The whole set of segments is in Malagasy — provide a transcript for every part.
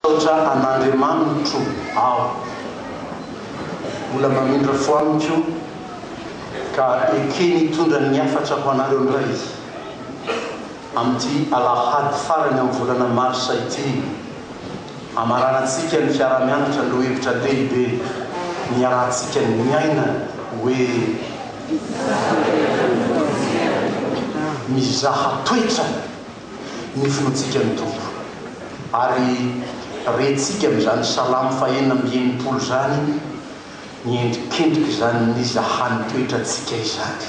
Misaotra an'Andriamanitro aho. Mbola mamindra fo amiko ka ekeny hitondra ny hafatra ho anareo indray Izy amin'ity alahady farany amin'ny volana marsa ity hamaranantsika ny fiaraha-mianatra an'ireo hevitra lehibe niarahantsika niaina hoe Mizaha Toetra. ny fontsika ny Tompo, ary rentsika amin'izany Salamo fahenina amby enimpolo izany ny endrikendrika izany n'iza hany toetra antsika izany.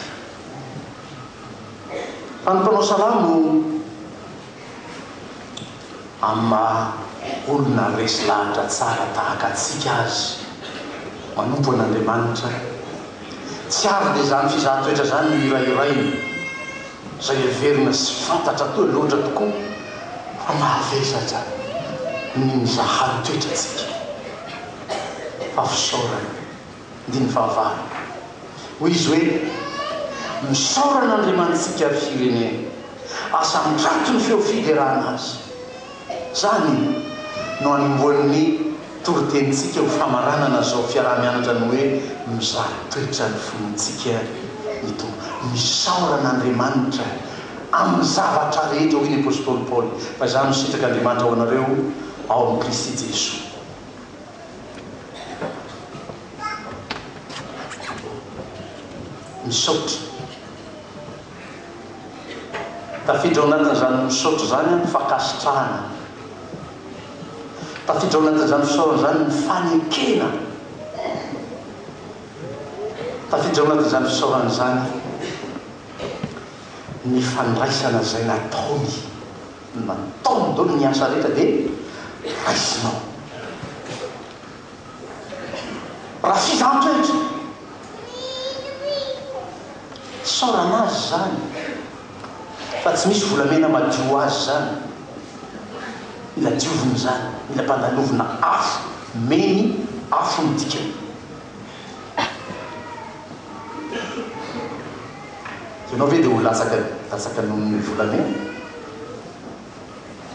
Fa ny mpanao salamo amin'ny maha olona resy lahatra tsara tahaka antsika azy manompo an'Andriamanitra, tsy avy dia izany fizahan-toetra izany no hirahirainy. izay heverina sy fantatra atoa loatra tokoa fa mahavesatra ny mizahary toetrantsika. Fa fisaorana, ndiny fahavalo. Hoy izy hoe, Misaora an'Andriamanitsika ry firenena, asa ampiato ny feo fiderana Azy. Izany no anombohan'ny toritenintsika ho famaranana izao fiaraha-mianatra ny hoe Mizara toetra ny finoantsika ny Tompo. Misaora an'Andriamanitra amin'ny zavatra rehetra, hoy ny apostoly Paoly, fa izany no sitrak'Andriamanitra ho anareo ao amin'i Kristy Jesoa. Misaotra. Tafiditra ao anatin'izany misaotra izany aho ny fankasitrahana. Tafiditra ao anatin'izany fisaorana izany ny fanekena. Tafiditra ao anatin'izany fisaorana izany ny fandraisana izay nataony. Nataony daholo ny asa rehetra dia raisinao. Raha tsy izany toetra, isaorana azy izany fa tsy misy volamena madio ho azy izany. Mila diovina izany, mila ampandalovina afo, meny afo ny dikany. Ianao ve dia ho latsaka latsaka noho ny volamena?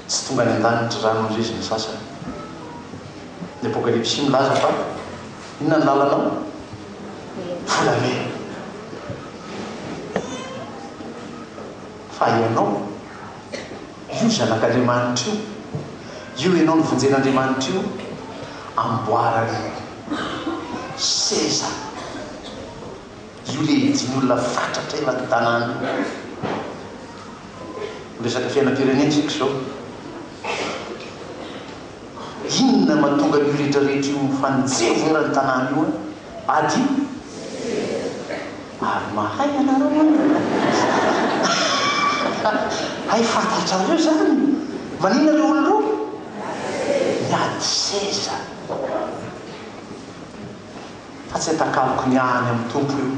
tsy tonga any an-danitry rano indray izy ny sasany. Ny Apokalypsy milaza fa inona ny lalanao? Volamena. Fa ianao, io zanak'Andriamanitra io, io ianao novonjen'Andriamanitra io, amboarany seza. Io le izy olona fatratra eran'ny tanàna io. Miresaka fiainam-pirenena isika izao. Inona no mahatonga an'io rehetra rehetra io mifanjevo eran'ny tanàna io an? Ady? Ary mahay ianareo an! Hay fantatrareo izany! Maninona ireo olona ireo? Miady seza. fa tsy atakaloko ny ahy any amin'ny Tompo io.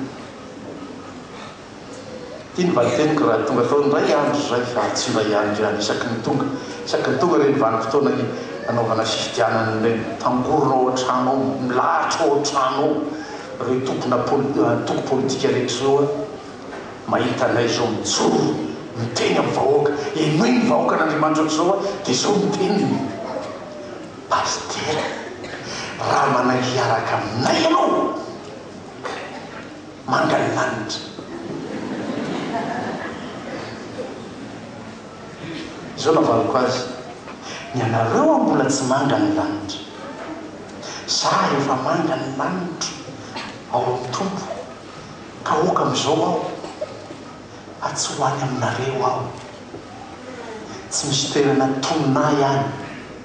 Ity ny valiteniko raha tonga tao indray andro izay fa tsy iray andro ihany isaky ny tonga, isaky ny tonga ireny vanim-potoana anaovana fifidianana ireny. Tangorona ao an-trano ao, milahatra ao an-trano ao ireo tompona antoko politika rehetra ireo an! Mahita anay izao mijoro miteny amin'ny vahoaka, henoy ny vahoaka an'Andriamanitra aoka izao an! dia izao ny teniny. Pasitera, raha manahy hiaraka aminay ianao, manga ny lanitra. Izao navaliko azy, ny anareo an mbola tsy manga ny lanitra, za efa manga ny lanitra ao amin'ny Tompo, ka oka amin'izao aho fa tsy ho any aminareo aho, tsy misy toerana tonona ahy any.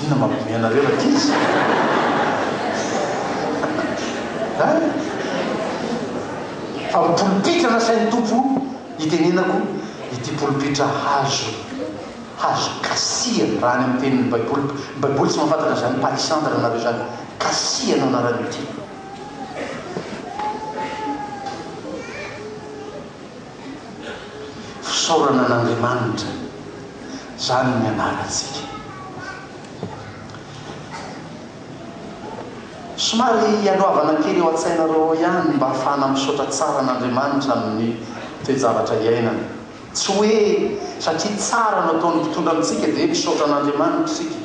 Inona mampiomehy anareo rankizy? An? Fa ho polipitra nasain'ny Tompo hitenenako ity polipitra hazo, hazo kasihana, raha any amin'ny tenin'ny Baiboly, ny Baiboly tsy mahafantatra an'izany palissandre anareo izany, kasihana no anaran'ity. Fisaorana an'Andriamanitra izany ny anarantsika. Somary ialoavana kely ao an-tsainareo ao ihany ny mba hahafahana misaotra tsara an'Andriamanitra amin'ny toe-javatra iainana. Tsy hoe satria tsara no ataon'ny mpitondra amintsika dia misaotra an'Andriamanitra isika.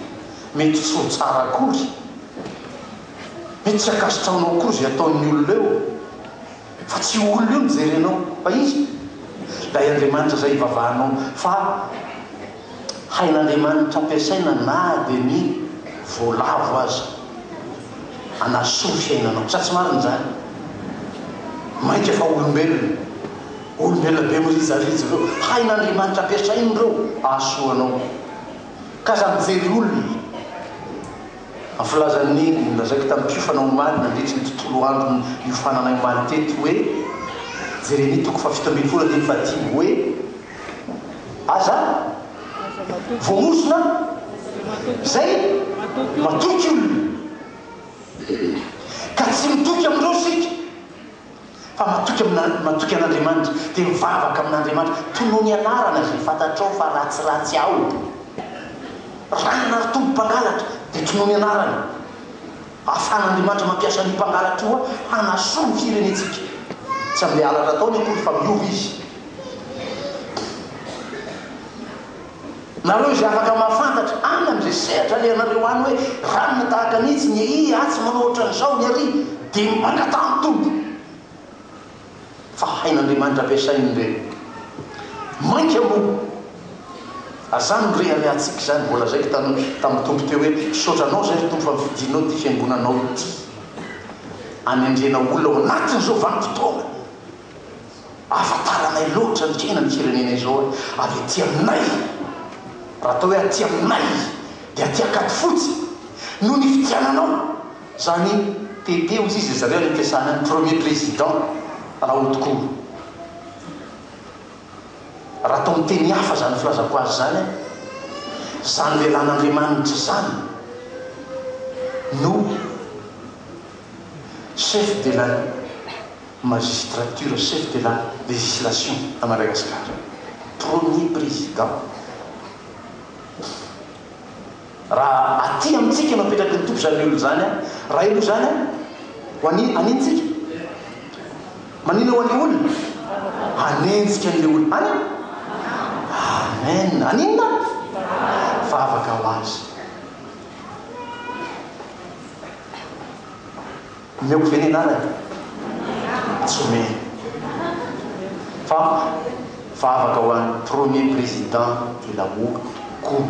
Mety tsy ho tsara akory. Mety tsy ankasitrahanao akory izay ataon'ny olona eo. Fa tsy io olona io no jerenao fa iza? Ilay Andriamanitra izay ivavahanao fa hain'Andriamanitra ampiasaina na dia ny voalavo aza hanasoa fiainanao. Sa tsy marina izany? Mainka fa olombelona, olombelona be mirijarijo ireo, hain'Andriamanitra ampiasaina ireo hahasoa anao. Ka aza mijery olona. Ny filazan'i Neny, nolazaiko tamim-piofana omaly nandritry ny tontolo andro niofananay omaly teto hoe, Jeremia toko fahafito ambin'ny folo andininy fahadimy hoe, Aza voaozona izay matoky olona, ka tsy mitoky amin'ireo isika. Fa matoky amina, matoky an'Andriamanitra, dia mivavaka amin'Andriamanitra, tonony ny anarana izay fantatrao fa ratsiratsy ao. Ranona ary tompo mpangalatra, dia tonony ny anarany. Ahafahan'Andriamanitra mampiasa an'io mpangalatra io hanasoa ny firenentsika. Tsy amin'ilay halatra ataony akory fa miova izy. Nareo izay afaka mahafantatra any amin'izay sehatra alehanareo any hoe ranona tahaka ny itsy, ny ehi, atsy manao ohatran'izao, ny ary, dia mangataha ny Tompo fa hain'Andriamanitra ampiasainy ireny. Mainka moa aza no reharehantsika izany, voalazaiko tany tamin'ny Tompo teo hoe misaotra Anao izay ry Tompo fa nofidianao ity fiangonanao ity hanendrena olona ao anatin'izao vanim-potoana. ahafantaranay loatra ny tena ny firenena izao e, ary aty aminay, raha atao hoe aty aminay dia aty Ankadifotsy noho ny fidiananao zany PP hozy izy ry zareo any am-piasana any, premier président Rahotokoa. Raha atao amin'ny teny hafa zany filazako azy zany an, zany lelan'Andriamanitra zany no chef de la. Magistrature chef de la legislation à Madagascar premier président pff raha aty amintsika no apetraky ny Tompo zany olona zany an! raha aloha zany an! ho an an intsika? manina ho an le olona? hanenjika an le olona any amen! haninona an? vavaka ho azy. Omeko ve ny anarany? Tsy omeny. Fa vavaka ho an'ny premier président de la Mot Cour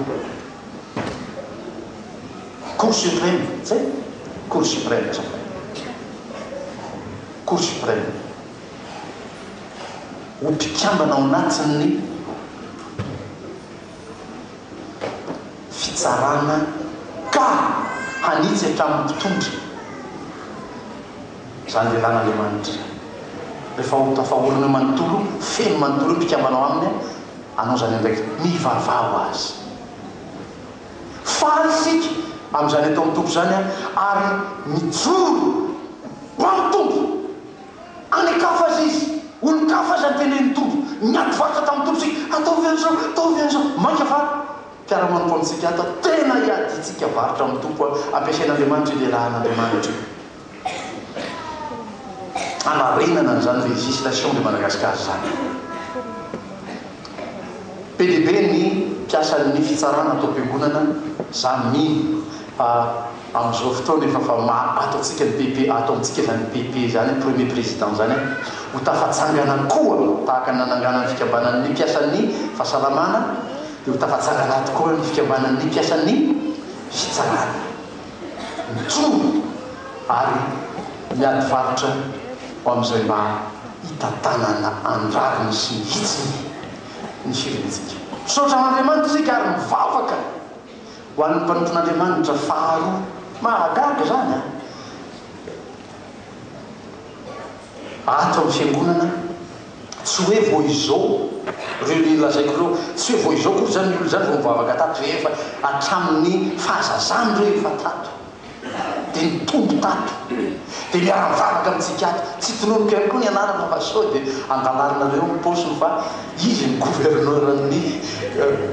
Cour supreme, zay? Cour supreme zao. Cour supreme. Ho mpikambana ao anatin'ny. fitsarana ka hanitsy hatramin'ny mpitondra izany lehilahy n'Andriamanitra rehefa ho tafahorina manontolo feno manontolo ny mpikambana ao aminy hanao izany andraikitra mivavaha ho azy faly isika amin'izany atao amin'ny Tompo izany ary mijoro ho amin'ny Tompo An'Ikafa aza izy, olon-kafa aza niteneny ny Tompo, niady vakoka tamin'ny Tompo isika, ataovy an'izao, ataovy an'izao, mainka fa mpiara-manompo amintsika ato aho, tena iadiantsika varotra amin'ny Tompo aho, ampiasain'Andriamanitra io iarahan'Andriamanitra io. Hanarenana an'izany législation de Madagascar izany. Be dia be ny mpiasan'ny fitsarana ato am-piangonana, izaho mino fa. Amin'izao fotoana efa fa maro ato antsika ny PP ato amintsika izany PP izany premier président izany an! Ho tafatsangana koa tahaka ny nanangana ny fikambanan'ny mpiasan'ny fahasalamana dia ho tafatsangana ato koa ny fikambanan'ny mpiasan'ny fitsarana. Mijoro ary miady varotra ho amin'izay mba hitantanana ny rariny sy ny hitsiny ny firenentsika. Misaotra an'Andriamanitra isika ary mivavaka. Ho an'ny mpanompon'Andriamanitra faharoa. Mahagaga izany an! Ato amin'ny Fiangonana, tsy hoe vao izao, ireo ilay lazaiko ireo, tsy hoe vao izao akory izany ny olona izany vao mivavaka tato, efa hatramin'ny fahazazany ireo efa tato. dia nitombo tato dia niara nivavaka amintsika ato, tsy tononiko ihany koa ny anarana fa sao dia andalarinareo ny paosiny fa izy ny gouverneur ny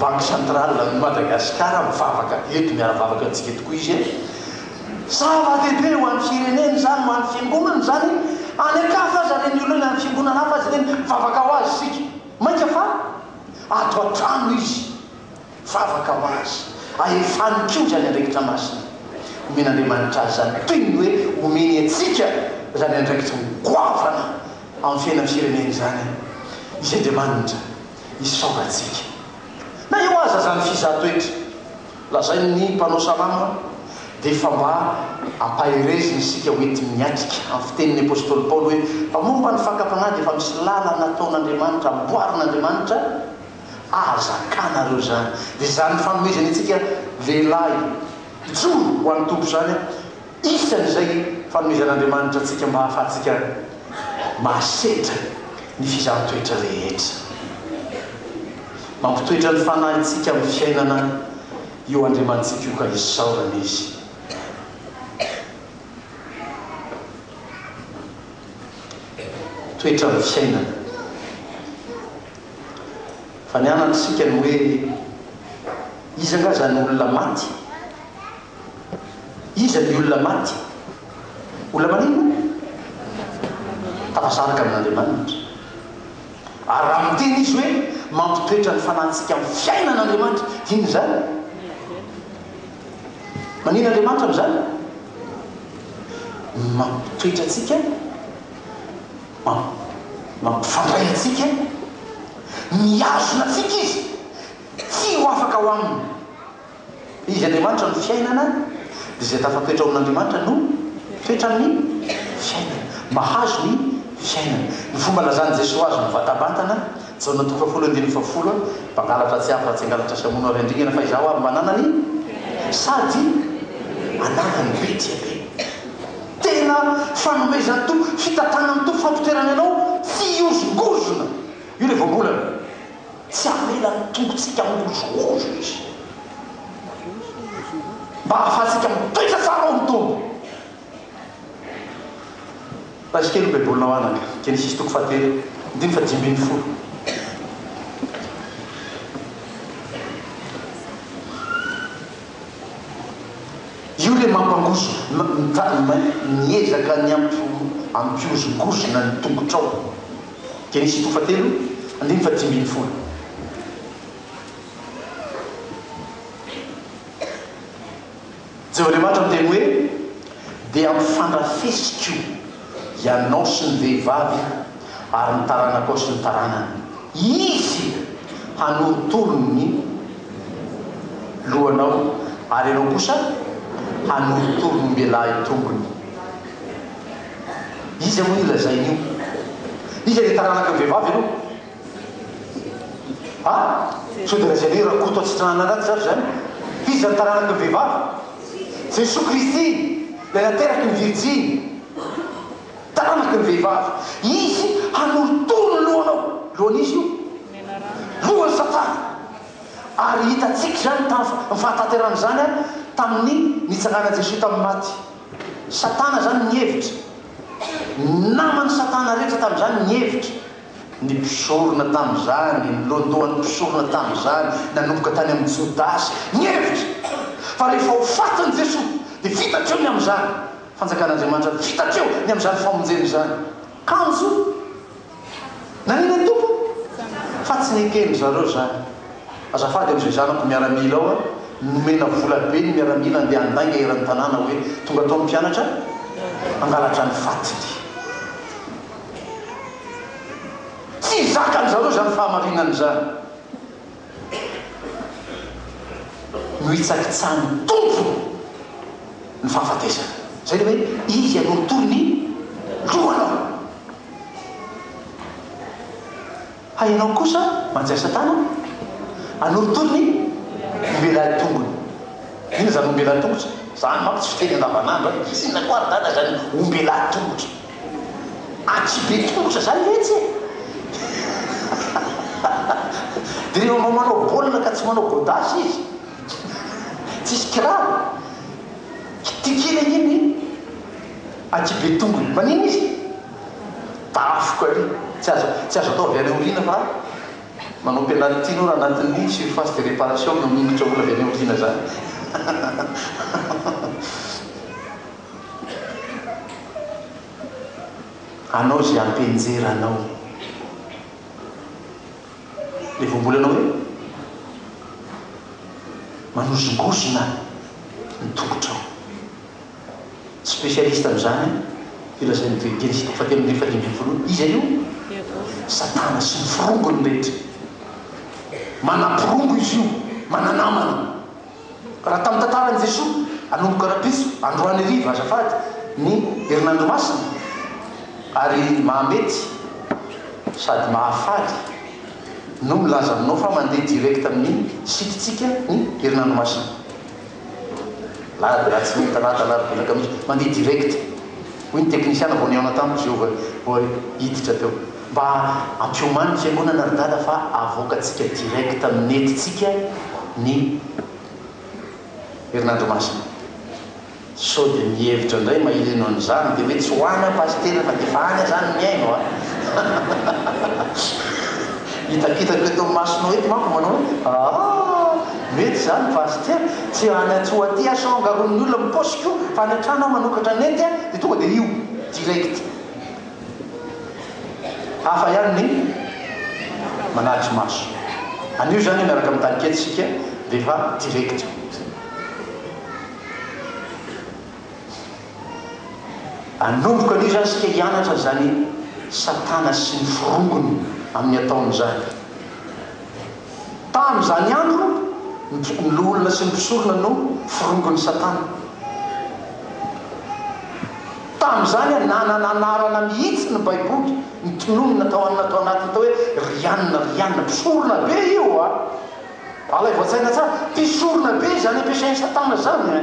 banque centrale an'i Madagascar mivavaka eto miara mivavaka amintsika eto koa izy e! Zava dehibe ho an'ny firenena izany ho an'ny fiangonana izany any an-kafa aza re ny olona any amin'ny fiangonana hafa aza ireny mivavaka ho azy isika mainka fa ato an-trano izy Vavaka ho azy, ahefany koa izany andraikitra masina. Omen'Andriamanitra azy izany toy ny hoe omeny antsika izany andraikitra ho goavana amin'ny fiainan'ny firenena izany Izy Andriamanitra isaorantsika. Na eo aza izany fizahan-toetra lazain'ny mpanao salamo dia efa mba ampaherezina isika ho entiny miatrika amin'ny fitenin'ny apostoly Paoly hoe fa momba ny fakam-panahy dia efa misy lalana ataon'Andriamanitra, amboarin'Andriamanitra Aza zakanareo zany. Dia zany fanomezany antsika lehilahy mijoro ho an'ny Tompo zany isan'izay fanomezan'Andriamanitra antsika mba hahafahantsika mahasedra ny fizahan-toetra rehetra. Mampitoetra ny fanahintsika amin'ny fiainana io Andriamanitsika io ka isaorana Izy. Toetra amin'ny fiainana. Fa ny anana isika ny hoe iza nga zany olona maty? Iza ny olona maty? Olona maninona? Tafasaraka amin'Andriamanitra. Ary raha miteny izy hoe mampitoetra ny fanantsika amin'ny fiainana Andriamanitra, dia inona izany? Maninona Andriamanitra amin'izany? Mampitoetra antsika. Mampifandray antsika, mihazona antsika Izy, tsy ho afaka ao Aminy. Izy Andriamanitra no fiainana, dia izay tafatoetra ao amin'Andriamanitra no toetran'ny fiainana. Mahazo ny fiainana. Ny fomba nilazan'i Jesoa azy mivatabantana. Jaona toko fahafolo andininy fahafolo Mpangalatra tsy avy raha tsy hangalatra sy hamono ary handringana fa Izaho avy manana ny sady hanana ny be dia be. Tena fanomezan'ny Tompo, fitantanan'ny Tompo fampiterana anao tsy hihozongozona. Io ilay voambolana. Tsy hamela ny tongotsika mihozohozo Izy mba hahafahantsika mitoetra tsara ao amin'ny Tompo. Page kely ny Baibolinao anaka, Genesisy toko fahatelo, andininy fahadimy ambin'ny folo. Io ilay mampangozo, miezaka ny hampihozongozona ny tongotrao. Genesisy toko fahatelo, andininy fahadimy ambin'ny folo. Jehovah Andriamanitra miteny hoe, Dia hampifandrafesiko ianao sy ny vehivavy ary ny taranakao sy ny taranany. Izy hanorotoro ny lohanao ary ianao kosa hanorotoro ny ombialahy tongony. Iza moa io lazainy io? Iza ilay taranaka vehivavy aloha? Ha? Sao dia lazainay hoe Rakoto Atsitrahana Anaty zavatra izany? Iza ny taranaky ny vehivavy? Jesoa Kristy, Ilay nateraky ny virjiny. Taranaky ny vehivavy. Izy hanorotoro ny lohanao. Lohan'iza io? Lohan'i Satana. Ary hitantsika izany tamin'ny, ny fahatanterahan' izany an, tamin'ny nitsanganan'i Jesoa tamin'ny maty. Satana izany nihevitra. Naman'i Satana rehetra tamin'izany nihevitra. Ny mpisorona tamin'izany, ny lohandohan'ny mpisorona tamin'izany, nanomboka tany amin'i Jodasy, nihevitra fa rehefa ho fatin'i Jesoa, dia vita hatreo ny amin'izany Fanjakan'Andriamanitra, vita hatreo ny amin'izany famonjena izany. Kanjo nanina ny Tompo fa tsy neken-dry zareo izany. Azafady amin'izay zanako miaramila ao a, nomena vola be ny miaramila handeha handainga eran'ny tanàna hoe tonga ato ny mpianatra hangalatra ny fatiny. Tsy zakan-dry zareo izany fahamarinana izany. Nohitsakitsahan'ny Tompo ny fahafatesana. Izay ilay hoe, Izy hanorotoro ny lohanao. Fa ianao kosa manjaitra tana hanorotoro ny ombelany tongony. Inona izany ombelany tongotra? Izany manko tsy fiteny andavanandro an! Izy inona koa ary tana izany ombelany tongotra? Atsy be tongotra izany ve atsy e? Dia rehefa mba manao baolina ka tsy manao gôdasy izy, tsisy kiraro, kitikina anie ny atsy be tongony. Maninona izy? Tafika ary tsy azo tsy azo ataovy any aoriana fa manao penalty nora anatin'ny surface de reparation no mingotra olona avy any aoriana zany anao ze ampenjera anao le voambolanao hoe manozongozona ny tongotrao Specialiste amin'izany an, filazain'ny Evanjely Jean fahatelo ambin'ny fadimy ambin'ny folo hoe iza io? Satana sy ny forongony rehetra. Manamporongo izy io, mananamana. Raha tamin'ny tantaran'i Jesoa, anomboka rahampitso, androany hariva, azafady, ny herinandro masina, ary mahamety sady mahafaly no milaza aminao fa mandeha direct amin'ny site-tsika ny herinandro masina. Lady raha tsy mahita lady alavo betsaka mihintsy, mandeha direct. Hoy ny teknisiana vao nihaona tamiko izy io vao vao hiditra teo. Mba ampiomano ny fiangonana ry dada fa avoakantsika direct amin'ny net-tsika ny herinandro masina. Sao dia mihevitra indray maheno an'izany dia hoe tsy ho any aho pasitera fa dia efa any aho izany mihaino a! Hitakitako eto amin'ny masonao eto manko manao hoe aah! Mety izany fa azy ity an! Tsy any Antsoatia aho sao angaron'ny olona amin'ny paosiko io fa any an-trano aho manokatra ny nenty an! Dia tonga dia io! Direct! Hafa ihany ny manatry maso. Anio izany miaraka amin'ny tany kely isika dia efa direct mihitsy. Anomboka anio izany isika hianatra an'izany Satana sy ny forongony amin'ny ataony izany. Tamin'izany andro, ny loholona sy ny mpisorona no forongon'i Satana. Tamin'izany, nanana anarana mihitsy ny Baiboly, ny tononina tao anona tao anatiny atao hoe Rianina, Rianina. Mpisorona be io a! Alaivo an-tsaina tsara, mpisorona be izany ampiasain'i Satana izany.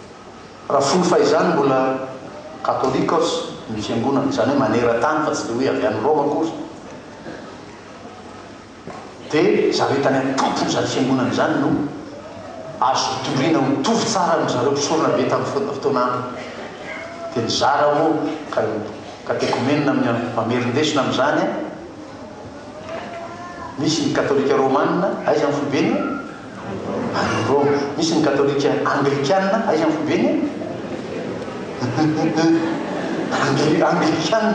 Raha fony fahizany mbola Katôlikôs ny fiangonana, izany hoe maneran-tany fa tsy dia hoe avy any Rôma akory, dia zareo tany an-tompon'izany fiangonana izany no azo hitoriana ho tovy tsara amin-dry zareo mpisorona be tamin'ny fotoana androny. Dia nizara moa ka io Katêkomenina amin'ny mamerin-desona amin'izany, Misy ny Katôlika Rômana, aiza ny foibeny? Ary Roma. Misy ny katolika anglikana, aiza ny fobeny e? Angli, anglikana,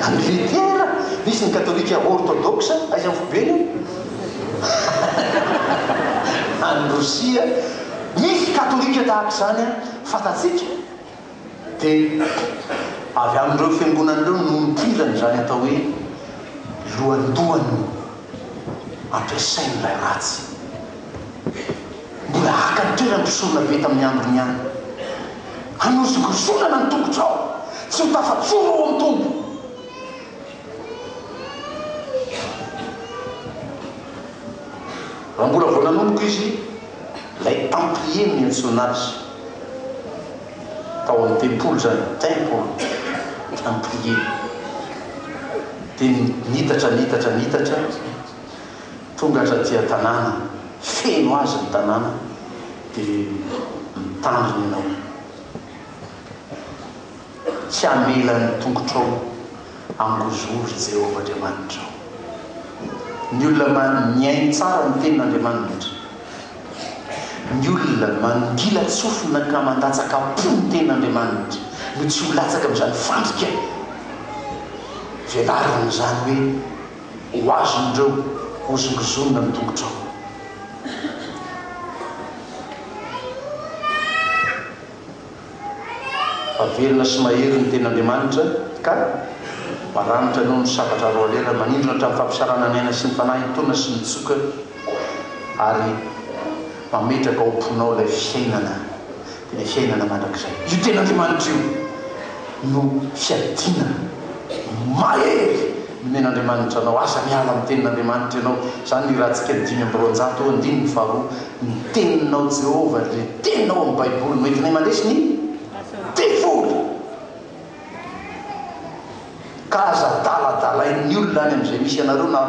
Angletera. Misy ny katolika ortodoksa, aiza ny fobeny e? Any Rosia. Misy katolika tahaka izany an, fantatsika. dia avy amin'ireo fiangonana ireo no nidirany izany atao hoe lohandohany ampiasain'ilay ratsy. Mbola haka ny toerany mpisorona be tamin'ny androny ihany. Hanozongozonana ny tongotrao, tsy ho tafajoro ao amin'ny Tompo. Raha mbola vao nanomboka izy, ilay Templier no niantsoana azy. tao amin'ny tempoly izany, temple, en prier. Dia nitatra, nitatra, nitatra, tonga hatraty an-tanàna, feno azy ny tanàna, dia mitandrina ianao. Tsy hamela ny tongotrao hangozory Jehovah Andriamanitrao. Ny olona mihaino tsara ny tenin'Andriamanitra, ny olona mandilan-tsofina ka mandatsaka-po ny tenin'Andriamanitra no tsy ho latsaka amin'izany fandrika velariny izany hoe ho azon'ireo hozongozonina ny tongotrao. fa velona sy mahery ny Tenin'Andriamanitra, ka maranitra noho ny sabatra roalera, manindrona hatramin'ny fampisarana ny aina sy ny fanahy hitoana sy mitsoka, ary mametraka ao am-ponao ilay fiainana, dia ilay fiainana mandrakizay. Io Tenin'Andriamanitra io no fiadiana mahery. Nomen'Andriamanitra anao asa miala amin'ny Tenin'Andriamanitra ianao. Izany ny Ratsika ny dimy amby roanjato eo andininy faharoa. Ny Teninao Jehovah ary ilay Teninao amin'ny Baiboly no entinay mandresy ny devoly. Ka aza adaladalain'ny olona any amin'izay misy anareo na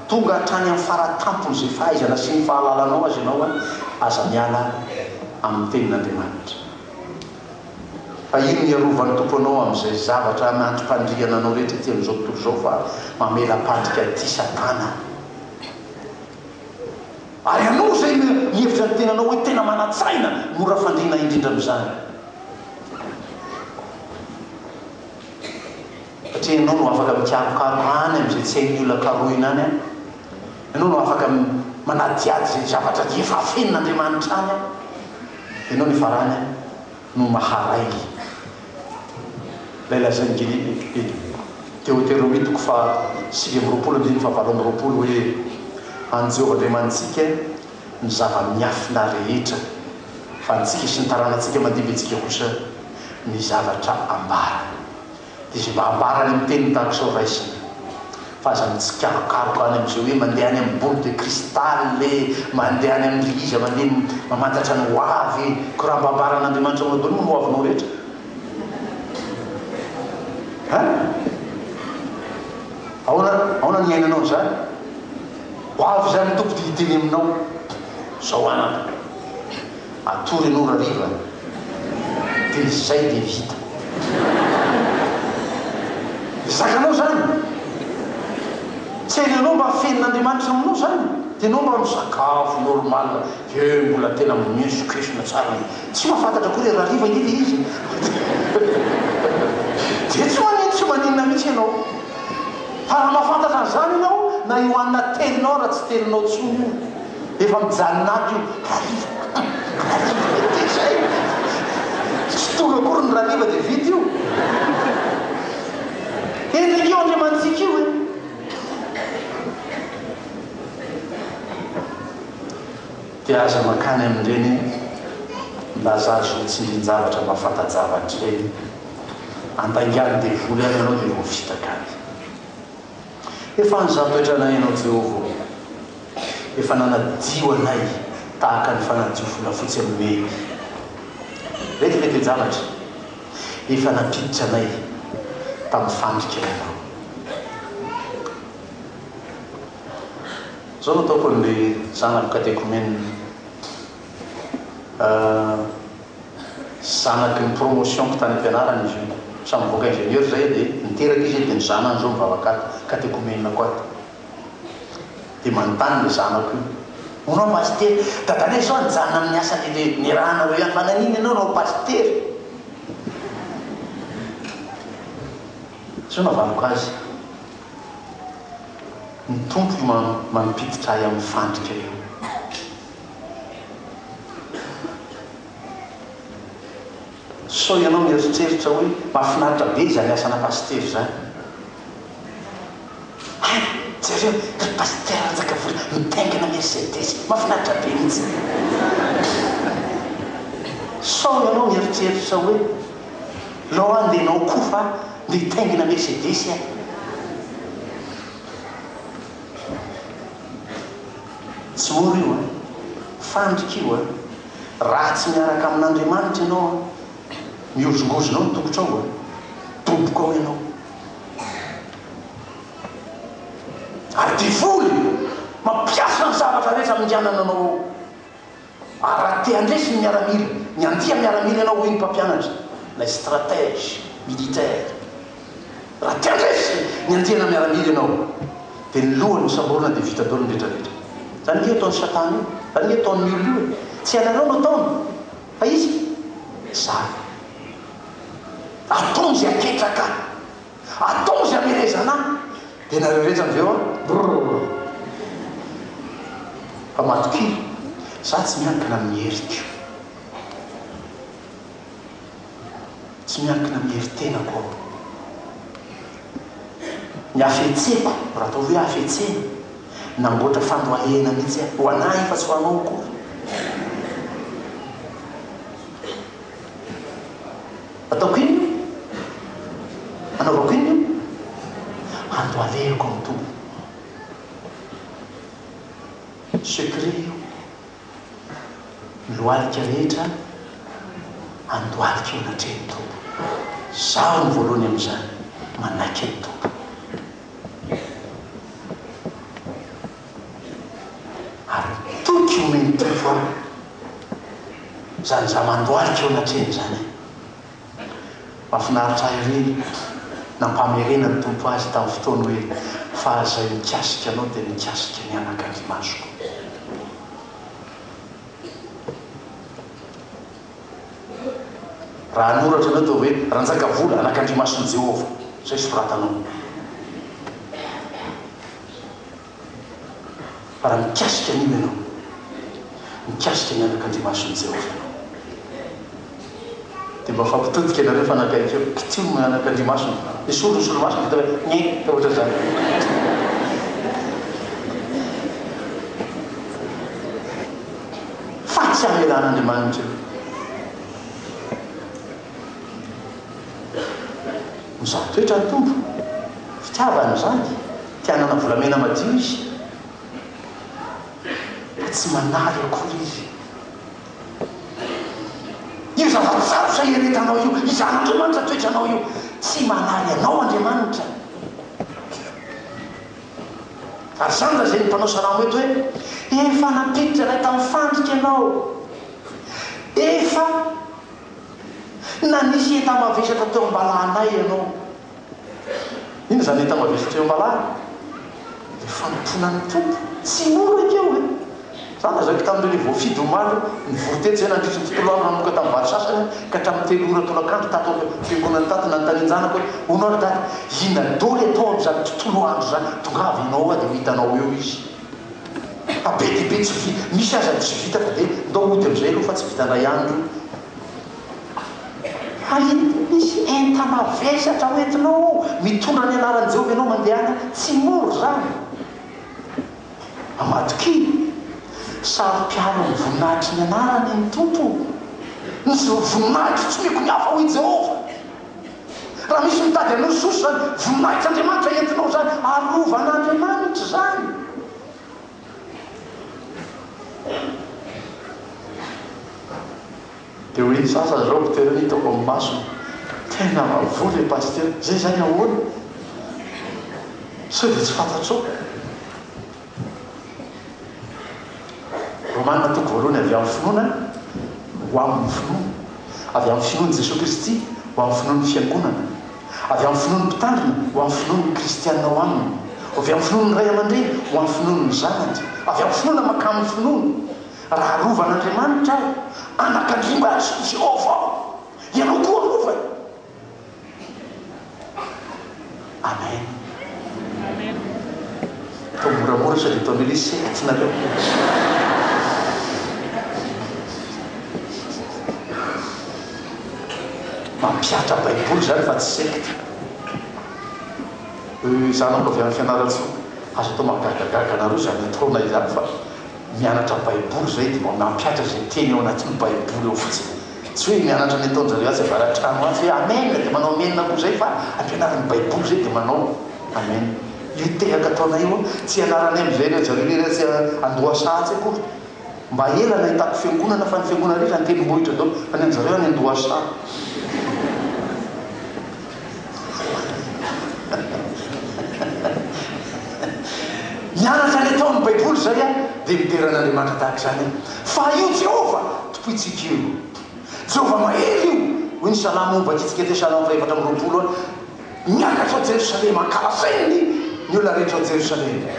tonga hatrany amin'ny faratampon'izay fahaizana sy ny fahalalanao azy ianao an, aza miala amin'ny Tenin'Andriamanitra. Fa inona hiarovan'ny Tompo anao amin'izay zavatra anantipandriana anao rehetra ety amin'izao tontolo izao fa mamela pandrika an'ity Satana ary anao izay mihevitra ny tenanao hoe tena manan-tsaina mora fandriana indrindra amin'izany satria ianao no afaka mikarokaroka any amin'izay tsy hain'ny olona karohina any an ianao no afaka manadihady izay zavatra efa afenin'Andriamanitra any an Ianao le farany no maharay lay lazain'i Gilly Ekipe teoteromitiko faha sivy amby roapolo andininy faha valo amby roapolo hoe, An'i Jehovah Andriamanitsika ny zava-miafina rehetra, fa antsika sy ny taranatsika mandimby antsika kosa ny zavatra ambarany. Izy mba ambarany amin'ny teniny tahaka izao raisina fa aza mitsikarokaroka any amin'izay hoe mandeha any amin'ny boule de cristal e, mandeha any amin'ndry iza mandeha mamantatra ny ho avy e, ko raha mba ambaran'Andriamanitra aminao daholo ny ho avinao rehetra an! Ahoana ahoana ny iainanao an'izany? Ho avy izany ny Tompo dia hiteny aminao zao anaka. Atory aloha rariva de zay de vita. Zakanao zany? Tsy hainy anao mba fehin'Andriamanitra aminao zany de enao mba misakafo normal ve mbola tena miesokesona tsara ny tsy mahafantatra koa le rariva nge le izy de tsy manin tsy maninona mitsy enao fa raha mahafantatra an'zany enao na io hanina teninao raha tsy teninao tsony io Efa mijanona ato io. Rariva Rariva dia dia izay e! Tsy toro akory ny Rariva dia vita io. Endrika io Andriamanitsika io e! Dia aza mankany amin'ireny Lazare zo tsindrin-javatra mba fanta-javatra ireny. Andaingan'ny devoly any ianao dia voafitaka any. Efa nizatoetra anay ianao Jehovah ô! Efa nanadio anay tahaka ny fanadio volafotsy amin'ny mena. Ireto ilay toe-javatra, Efa nampiditra anay tamin'ny fandrika ianao. Izao no ataoko amin'ilay zanako katekaomenina. zanaky ny promotion-ko tany am-pianarana izy io, samy nivoaka ingénieur izay dia niteraka izy dia ny zanany izao mivavaka ahy, katekomenako ahy, dia manontany ilay zanako io, hono aho pasitera, dadanay sao nijanona amin'ny asa niarahanareo ihany fa naninona ianao no pasitera? Sao navaniko azy, ny Tompo no mampiditra ahy amin'ny fandrika eo. Sao ianao mieritreritra hoe mahafinaritra be izany asana pasitera izany? Hay, jereo, ry Pasitera Ranjakavola mitaingina Mercedes, mahafinaritra be mihitsy! Sao ianao mieritreritra hoe lao any dia ianao koa fa mitaingina Mercedes aho? Tsy oro io an! Fandrika io an! Raha tsy miaraka amin'Andriamanitra ianao an! Mihozongozona ao ny tongotrao an! Doboka ao ianao! Ary devoly mampiasa ny zavatra rehetra minganana anao ao! Araky te handresy ny miaramila, ny andia miaramila ianao hoy ny mpampianatra ilay stratège militaire. Raha te handresy ny andiana miaramila ianao dia ny lohany hosamborina dia vita daholo ny retraretra. Izany ange ataon'i Satana io, izany ange ataon'ny olona io e! Tsy ianareo no ataony fa izy? Izany. Ataony izay apetraka. Atao zay amelezana ahy de nareo rehetra avy eo an brrrr fa matokia za tsy miankina amin'ny heriko tsy miankina amin'ny herin-tenako aho ny hafetseko raha atao hoe hafetsena namboatra fandohalehana mihitsy aho ho an'ahy fa tsy ho anao akory Ataoko inona io? Anaovako inona io? Ando alehiko amin'ny Tompo. Secret io. Ny lohalika rehetra andohalika eo anatrehan'ny Tompo. Izaho no voalohany amin'izany, manaiky an'i Tompo. Ary toky omeny preuve aho zany za mandohalika eo anatrehany zany e! Mafinaritra ahy ery nampamerena ny Tompo azy tamin'ny fotoany hoe fa zay mikasika anao dia mikasika ny anaka ny masoko. Raha hanoratra anao dia hoe Ranjakavola anak'Andrimason'i Jehovah zay soratanao. Raha mikasika an'io ianao, mikasika ny anakandriamason'i Jehovah ianao, dia mba fampitodika anareo fa nankahery hoe kitihiny ny anakandriamasony. Nisolo ny solomasony, dia tonga dia ngeh! Ohatra izany. Fahatsamelan'Andriamanitra io. Mizaha toetra ny Tompo, fitiavany ny zandry, te hanana volamena madio izy, ka tsy manary akory izy. Io zava-tsarotra hiaretanao io, hizahan'Andriamanitra toetranao io, tsy manary anao Andriamanitra. Ary izany lazain'ny mpanao salamo eto hoe, efa nampiditra anay tamin'ny fandrika ianao, efa. Na nisy enta-mavesatra teo am-balahanay ianao. Inona izany enta-mavesatra teo am-balahana? Ilay fanompoana ny Tompo. Tsy mora ekeo e! Izaho lazaiko tamin'ireo ilay voafidy omaly hoe nivory teto izahay nandritry ny tontolo andro nanomboka tamin'ny valo sasany ka hatramin'ny telo ora tolakandro tato am-piangonana tato. Nanontanian-janako hoe, Hono ary Dada, inona daholo atao amin'izany tontolo andro izany? Tongava ianao ao dia ho hitanao eo izy. Fa be dia be tsy vita, misy aza tsy vita fa dia ndao hody amin'izay aloha fa tsy vita ndray andro io. Fa iny koa misy enta mavesatra ho entinao ao, mitondra ny anaran'i Jehovah ianao mandeha any, tsy mora izany. Ambadik'iny, saro-piaro amin'ny voninahitry ny anarany ny Tompo. Ny voninahitro tsy omeko ny hafa hoy Jehovah. Raha misy mitady anao Jesosy izany, voninahitr' Andriamanitra entinao izany, arovan'A Andriamanitra izany. Dia hoy ny sasany izao, Ptera ny hitako amin'ny masony, Tena vavoloy le Pasitera, zay izany ahoana? Sao dia tsy fantatrao? Romana toko voalohany avy amin'ny finoana ho amin'ny finoana, avy amin'ny finoan'i Jesoa Kristy ho amin'ny finoan'ny Fiangonana, avy amin'ny finoan'ny Mpitandrina ho amin'ny finoan'ny Kristiana ao aminy, avy amin'ny finoan'ny ray aman-dreny ho amin'ny finoan'ny zanany, avy amin'ny finoana mankamin'ny finoana. Raha arovan'Andriamanitra aho, anakandriambato, Jehovah aho, ianao koa arovany. Amen. Amen. Atao moramora sao dia ataon'ny olona hoe sehatra nareo. Mampiatra baiboly zany fa tsy secte. Euh, za manko avy any Fianarantsoa. Aza atao mahagagagaga anareo zany ataonay izany fa mianatra baiboly zay dia mba mampiatra izay teny ao anatin'ny baiboly ao fotsiny. Tsy hoe mianatra ny ataonjareo atsy avaratrano atsy hoe amen dia manao amen koa zay fa ampianarin'ny baiboly zay dia manao amen. Io tehaka ataonay io tsy ianaranay amzay re zareo lery atsy andohasa atsy akory mba ela nahitako fiangonana fa ny fiangonana rehetra antendrombohitra daholo fa ny anjareo any andohasa. Ny araka ny ataon'ny Baiboly izay dia midera an'Andriamanitra tahaka izany fa io Jehovah tompointsika io. Jehovah mahery io, hoy ny salamo momba antsika teo, Salamo fahefatra amby roapolo, Miakatra ao Jerosalema, ankalazainy ny olona rehetra ao Jerosalema.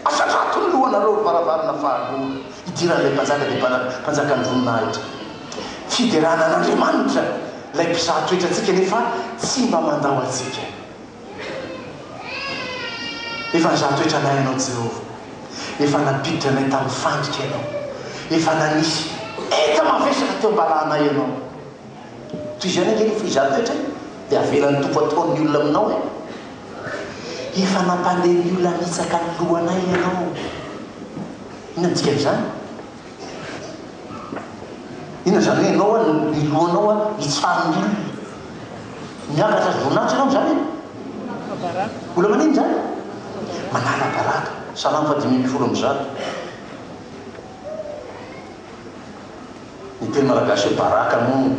Asandrato ny lohanareo, ry varavarana fahagola. Idiran'ilay mpanjaka dia mpanam, mpanjakan'ny voninahitra. Fiderana an'Andriamanitra ilay mpizaha toetra antsika nefa tsy mba mandao antsika. Efa nizaha toetra anay ianao Jehovah. Efa nampiditra anay tamin'ny fandrika ianao. Efa nanisy enta-mavesatra teo am-balanay ianao. Toy izany ange rehefa hizaha toetra e, dia avelan'ny Tompo ataon'ny olona aminao e. Efa nampandeha ny olona hanitsaka ny lohanay ianao. Inona ny dikan'izany? Inona izany hoe ianao an, ny lohanao an, hitsara ny olona. Miakatra azy voninahitra ianao amin'izany e. Manala baraka. Olona manino izany? Manala baraka. Salamo fahadimy ambin'ny folo amby zato. Ny teny malagasy hoe baraka moa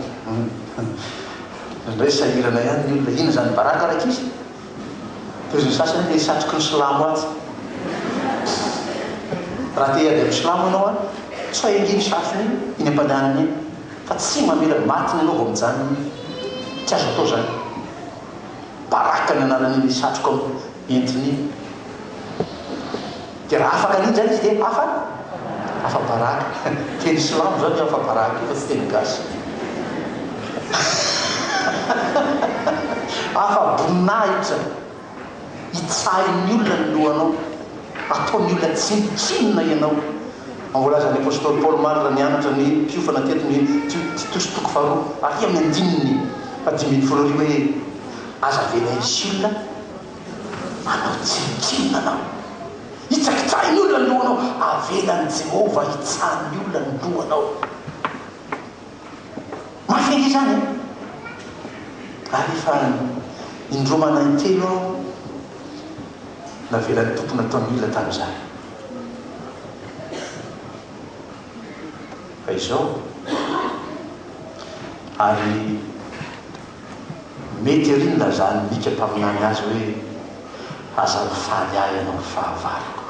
indraindray sahirana ihany ny olona, inona izany baraka ry ankizy? Pozin'ny sasany hoe ilay satroky ny silamo atsy. Raha te hiady amin'ny silamo ianao an, tsoay ange iny satrony iny, iny am-pandehanana iny, fa tsy mamela maty ny anao vao mijanona iny. Tsy azo atao izany. Baraka ny anaran'iny satroka entiny iny. Dia raha afaka ny indray izy dia afa, afa-baraka. Teny silamo izany io afa-baraka io fa tsy teny gasy. Afa-boninahitra. Itsahin'ny olona ny lohanao. Ataon'ny olona tsinontsinona ianao. Fa voalazan' ny apostoly Paoly omaly raha nianatra ny mpiofana teto ny Titosy toko faharoa ary amin'ny andininy fahadimy ambin'ny folo ary hoe, Aza avela hisy olona. Manao tsinontsinona anao. Hitsakitsahy ny olona ny lohanao. Avelan'i Jehovah hitsara ny olona ny lohanao. Mafy ange izany an! Ary efa indroa maraha intelo aho navelan'ny Tompo natao ny olona tamin'izany. Fa izao, ary. Mety ery ny lazan'i Mika mpaminany azy hoe, Aza mifaly ahy ianao ry fahavaloko,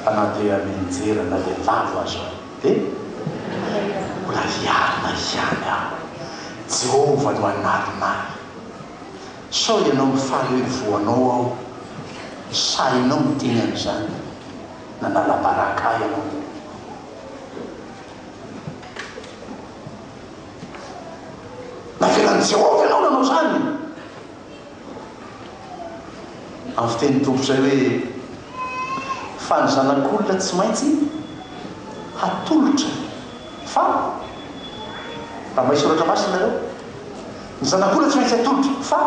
fa na dia mianjera na dia lavo aza aho, dia mbola hiarina ihany aho. Jehovah no hanarina ahy. Sao ianao mifaly hoe voanao aho? Sahinao miteny an'izany? Nanala baraka ahy ianao. Navelan'i Jehovah ianao nanao izany. Amin'ny fitenin'ny Tompo izay hoe, Fa ny zanak'olona tsy maintsy hatolotra. Fa, raha mahay soratra masina ianareo, ny zanak'olona tsy maintsy hatolotra. Fa,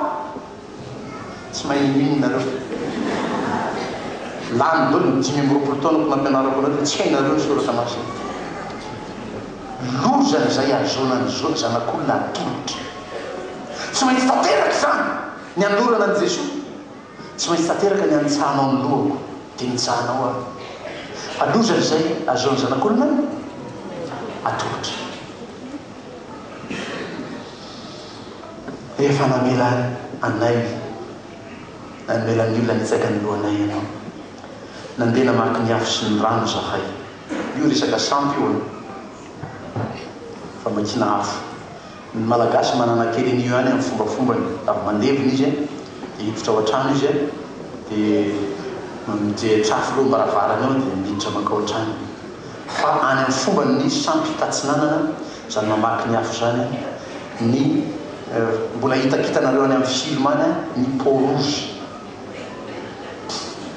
Tsy mahay mino nareo fa lany dolo ny dimy amby roapolo taonako nampianarako anareo dia tsy hainareo ny soratra masina. Loza izay hahazoana ny zanak'olona hatolotra. Tsy maintsy tanteraka izany ny hanolorana an'i Jesoa. Tsy maintsy tanteraka ny hanitsahanao ny lohako dia nitsahanao aho. Fa loza izay hahazoana ny zanak'olona hatolotra. Efa namela anay namela ny olona nitsaka ny lohanay ianao. Nandeha namaky ny afo sy ny rano izahay. Io resaka sampy io an! Famakiana afo. Ny Malagasy manana kely an'io ihany amin'ny fombafombany. Avy mandevina izy an, dia hiditra ao an-trano izy an, dia mijery tsafy eo am-baravarana eo dia miditra mankao an-trano. Fa any amin'ny fomban' ny sampy tatsinanana, izany mamaky ny afo izany, ny mbola hitakitanareo any amin'ny film any ny peau rouge,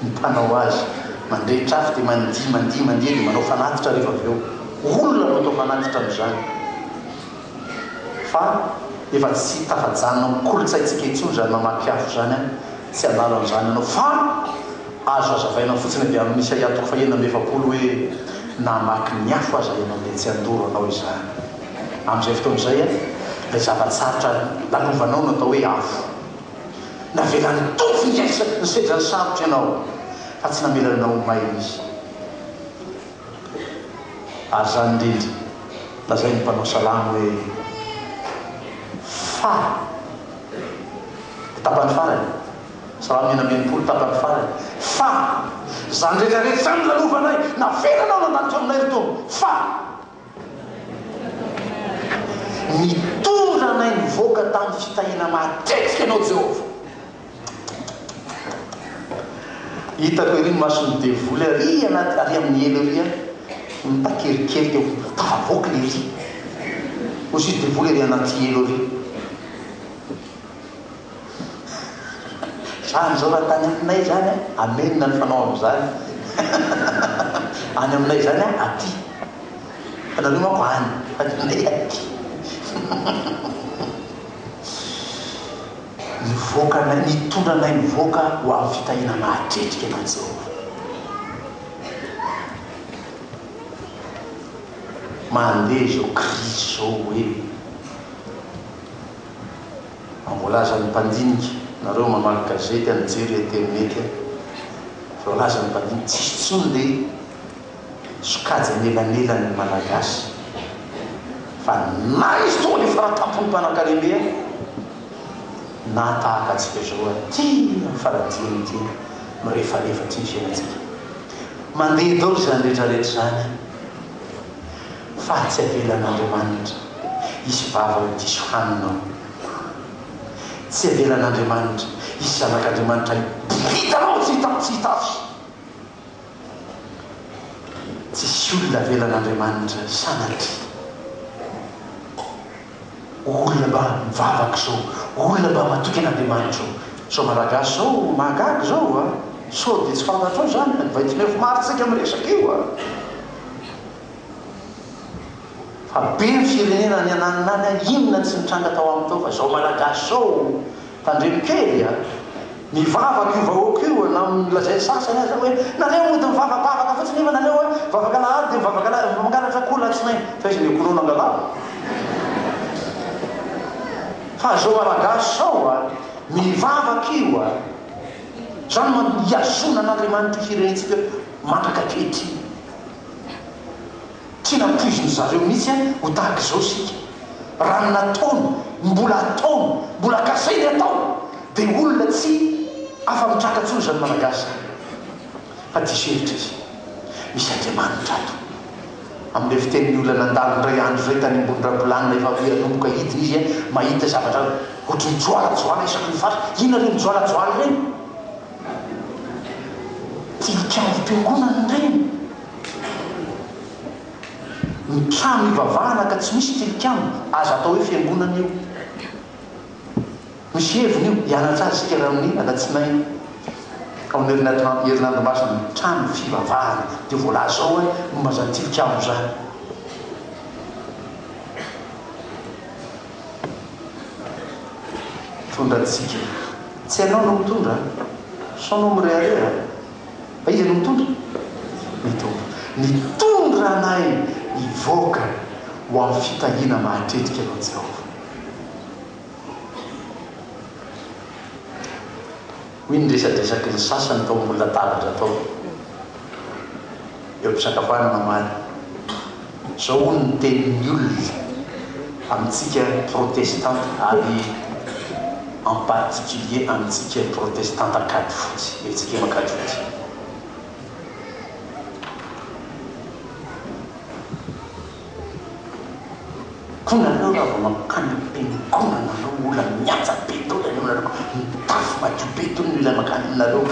ny mpanao azy mandrehitra afo dia mandihy, mandihy, mandihy dia manao fanatitra rehefa avy eo. Olona no atao fanatitra amin'izany. Fa efa tsy tafajanona amin'ny kolontsaintsika intsony izany mamaky afo izany an! Tsy hanala an'izany ianao. Fa azo hazavaina fotsiny avy amin'ny Isaia toko fahenina amby efapolo hoe namaky ny afo aza ianao dia tsy handoro anao izany. Amin'izay fotoana izay, ilay zava-tsarotra lalovanao no atao hoe afo. Navelan'ny Tompo hihaisa ny sedrany sarotra ianao, fa tsy namelany anao ho may Izy. Ary izany indrindra, lazain'ny mpanao salamo hoe, Fa. Ny tapany farany, Salamo enina amby enimpolo, tapany farany, Fa. Izany rehetra rehetra izany lalovanay, navelanao nandalo teo aminay ry Tompo, fa. Nitondra anay nivoaka tamin'ny fitahiana matetika Ianao Jehovah. Hitako ery ny mason'ny devoly ary anaty ary amin'ny elo ery an! Mitaky ery kely teo foana. Tafavoaka ilay izy. Hoy sisa devoly ery anaty elo ery. Izany izao raha tany aminay izany an, amenina ny fanao amin'izany. Any aminay izany an, aty. Fa nareo manko any. Any aminay aty. Nivoaka anay, nitondra anay nivoaka ho amin'ny fitahiana nahatretrika an'i Jehovah. Mandeha izao krizy izao hoe an, voalaza ny mpandinika, nareo mamaky gazety an, mijery internet an, voalaza ny mpandinika, tsisy intsony le. sokajy anelanelan' ny Malagasy fa na izy tonga dia fara-tampon' ny mpanankarem-be aza nahatahaka antsika izao aty amin' faladia ny dia mirefarefa aty ny fiainantsika. Mandeha daholo izany rehetrarehetra izany fa tsy avelan' Andriamanitra hisy vava ho diso hanina ao. Tsy avelan' Andriamanitra hisy zanak' Andriamanitra hiboridana ao tsy hita afo tsy hita afo. Tsisy olona avelan'Andriamanitra sanatria. Olona mba mivavaka izao, olona mba matoky an'Andriamanitra izao. Izao Malagasy izao mahagaga izao a! Sao dia tsy fantatrao izany an? Vao dimy arivo martsa isika miresaka io a! Fa be ny firenena any ananona any a! Inona tsy nitranga tao aminy tao fa izao Malagasy izao Tandremo kely a! Mivavaka io vahoaka io na lazain'ny sasany aza hoe nareo mody mivavabavaka fotsiny nefa nareo a mivavaka alahady dia mivavaka alahady mangalatra akoho latsinainy fa iza no konono angalava? Fa zao malagasy zao a! Mivavaka io a! Zany manko hihazona an'Andriamanitra hirehitsika mandraka ankehitriny. Tiana ampoizin-dry zareo mihitsy an, ho tahaka izao isika. Raha ny nataony, ny mbola hataony, mbola kasainy hatao, dia olona tsy afa-mitraka intsony izany Malagasy izany. Fa diso hevitra izy. Misy Andriamanitra ato. Amin'ilay fitenin'ny olona nandalo indray andro izay tany ambony rabolanina efa hoe hanomboka hidina izy an, mahita zavatra ohatry ny joalajoala isaky ny faritra. Inona ireny joalajoala ireny? Tilikambo-piangonana ireny. Ny trano hivavahana ka tsy misy tilikambo, aza atao hoe fiangonana io. Misy heviny io, hianatra azy isika raha amin'ny alatsinainy ao amin'ny herinandro masina ny trano fivavahana dia voalaza ao hoe momba izany tilikambo izany. Mitondra antsika. Tsy ianao no mitondra an! Sao anao mirehareha? Fa iza no mitondra? Ny Tompo. Nitondra anay hivoaka ho amin'ny fitahiana mahatretrika anao Jehovah. Hoy ny resadresaky ny sasany tao ambony latabatra tao. eo am-pisakafoanana omaly. Izao hono ny tenin'ny olona amintsika protestanta ary en particulier amintsika protestanta Ankadifotsy, eo amintsika eo Ankadifotsy. Koa nareo raha vao mankany am-piangonana nareo mbola mihaja be daholo ianareo, mitafy madio be daholo ny ilay mankany aminareo.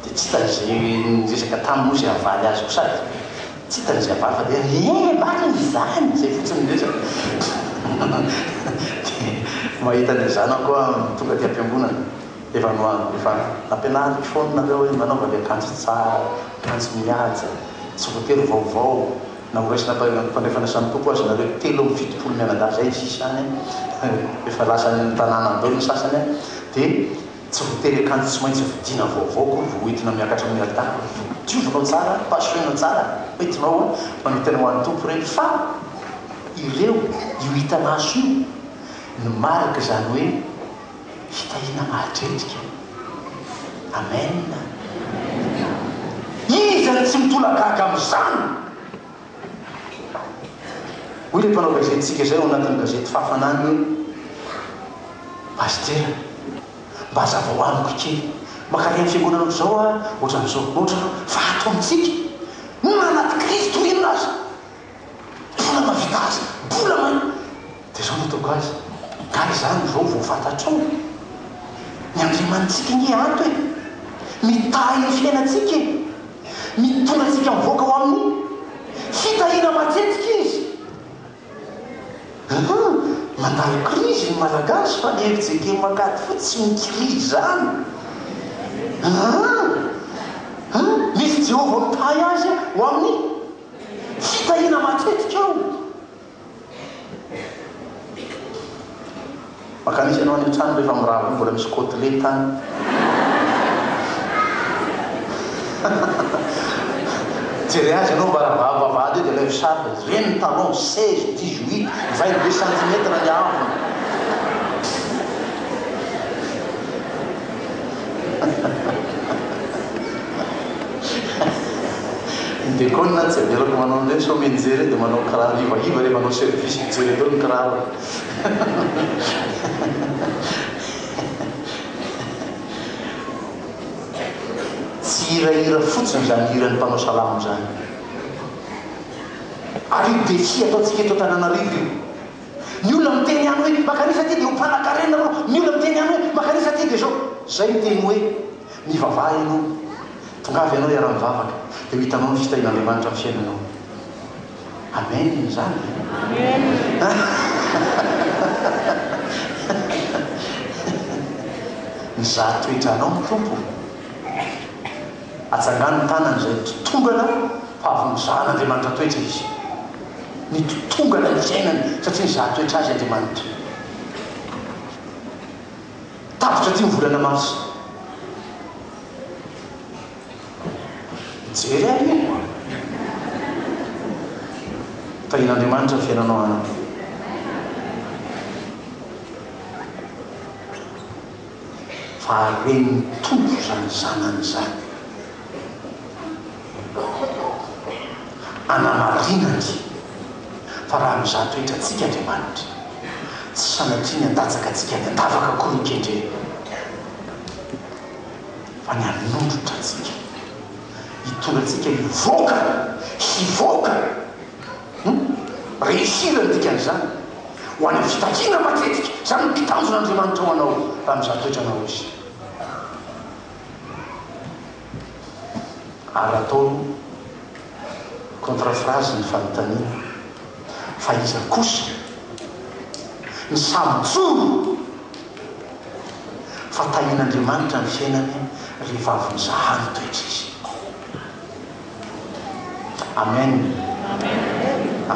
Dia tsy hitany izay niresaka taminy hoy izay havaly azy koa sady tsy hitany izay havaly fa dia Ee marina izany! izay fotsiny ny resaka. Dia mahita an'ilay zanako aho tonga aty am-piangonana, efa no efa nampianariko foana nareo hoe manaova ilay akanjo tsara, akanjo mihaja, tsy voatery vaovao, na horaisina am-pandrefana samy Tompo aza nareo telo amby fitopolo mianadahy izay ny sisa any an, efa lasan'ny tanàna be ny sasany an, dia Tsy voatery akanjo tsy maintsy vidiana vaovao akory vao entina miakatra amin'ny alitara. Diovinao tsara, pasohina tsara, entinao hoe manao tena ho an'ny Tompo ireny fa ireo, io hitamaso io, ny marika izany hoe fitahiana mahatretrika. Amen! Iza no tsy mitolagaga amin'izany? Hoy ilay mpanao gazetintsika izay ao anatin'ny gazety Fahafanany hoe, Pastera, mba hazavao amiko kely, mankany amin'ny fiangonana amin'izao aho ohatran'izao, ohatran'ny hoe fa ato amintsika, na anaty krizy toy inona aza, mbola mahavita asa, mbola man. Dia izao no ataoko azy, Ary izany izao vao fantatrao e! Ny Andriamanitsika anie ato e! Mitahy ny fiainantsika e! Mitondra antsika mivoaka ao amin'ny fitahiana matetika Izy. Ahaa! Mandalo krizy ny Malagasy fa ny fjkm Ankady fotsy tsy mikirizy izany. Ahaa! An! Misy Jehovah mitahy azy ho amin'ny fitahiana matetika ao. Mankany izy ianao any an-trano rehefa mirava iny mbola misy côtelette any. Jereo azy ianao mba ravavo vavahady eo dia alaivo sary dia jereo ny talon 16, 18, 22 centimètres ny avony. Ny Bekona tsy avelako manao an'ireny sao mianjera ireny dia manao kiraro ivaiva rehefa hanao service mijery avy eo ny kirarony. Tsy hirahira fotsiny izany hiran'ny mpanao salamo izany. Ary io défi ataontsika eto Antananarivo io. Ny olona miteny ihany hoe makanisa aty dia ho mpanakarena ianao, ny olona miteny ihany hoe makanisa aty dia izao. Izay ny teny hoe. Mivavaha ianao, tongava ianao hiara-mivavaka, dia ho hitanao ny fitahian'Andriamanitra amin'ny fiainanao. Amen izany ve? Amen. Mizaha toetra anao ny Tompo. Atsangano ny tanany izay mitotongana fa avy nozahan'Andriamanitra toetra izy. Mitotongana ny fiainany satria nizaha toetra azy Andriamanitra. Tapitra aty ny volana marsa. Mijery ahy anie. Tahian'Andriamanitra ny fiainanao anaka. Fa haren'ny Tompo izany zanany izany. Anamarinany fa raha mizaha toetra antsika Andriamanitra, tsy sanatria ny handatsaka antsika any an-davaka akory ny kendreny, fa ny hanondrotra antsika, hitondra antsika hivoaka, hivoaka, hum, réussir ny dikan'izany, ho any amin'ny fitakiana matetika, izany no mpitanjona Andriamanitra ho anao raha mizaha toetra anao Izy. ary ataony contre-phrase ny fanontaniana fa iza kosa ny samy joro fa tahian'Andriamanitra ny fiainany ry vavony zahany toetra izy. Amen.